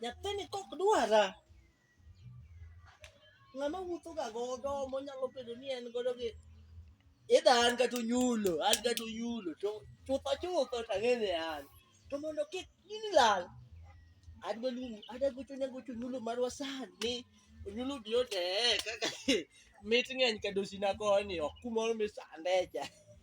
Nyathini kok dwara. Ng'ama wuotho ga godo monyalo bedo ni en godo gi idha an kata onyulo, an kata onyulo to chutho chutho to ang'e ni an. To mondo kik gini lal, adwa luongo adwa gocho ne gocho onyulo marwa sani. Onyulo udi otee kaka mit ng'eny ka dosina koni ok kumoro misande cha.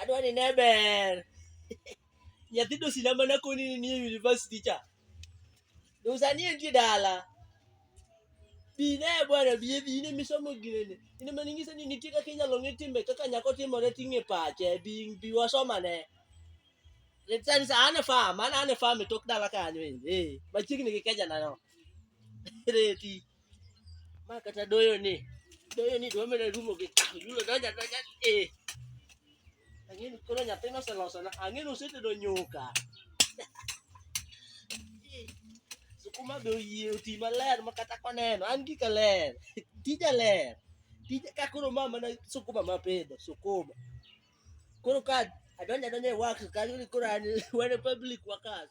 Adwa ni ne ber. Nyathi dosina mana koni ni nie university cha. Dosani entie dala. Bi ne bwana bi bi ne misomo gine. Ine mani ngisa ni nitie kaka inyalo ng'e timbe kaka nyako timore ting'e pache bi bi wasoma ne. Letani sa ane farm, ana ane farm e tok dala kanyo ende. Eh, machiegni gi keja na no. Reti. Ma kata doyo ni. Doyo ni dwa medo rumo gi tahu. Yulo doja doja. Eh. Ang'e ni koro nyathi noseloso na. Ang'e ni osetedo nyuka. Sukuma be oyie oti maler ma kata koneno. An gika ler. Tija ler. Tija ka koro ma mana sukuma ma pidho. Sukuma. Koro ka adonja donja e wax kanyo ni koro an wan e public workers.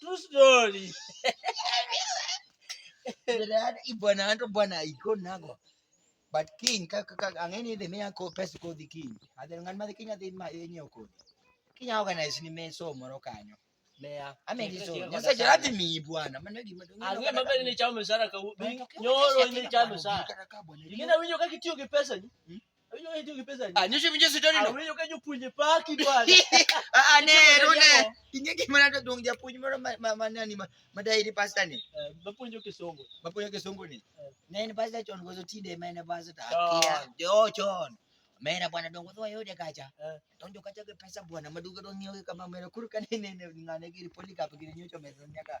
True story. Bwana anto bwana iko nago. But king kaka kaka angeni dhi miya ko pesa ko dhi king. Adhi ngan ma dhi king adhi ma yenye ko. King organize ni meso moro kanyo. Meya. Amegi so. Nyasa jara dhi mi bwana. Mano gima dong. Ang'e ma bende ni chamo msara ka nyoro ni chamo msara. Ingina winyo kaka itiyo gi pesa ni. Hmm? Anyishe pinje sitoni no. Awenyo kanyo puonje paki bwana. Ah ne rune. Inge gima na to dong japuonj moro ma nani ma dai ni pastor ni. Eh, bapuonjo kisongo. Bapuonjo kisongo ni. Eh. Ne en pastor chon gozo tinde ma en pastor ta. Jo chon. Mera bwana dongo dho yode kacha. Eh. Donjo kacha ke pesa bwana maduga donyo kama mera kurka ne ne ngane giri poli kapi giri nyocho mesa nyaka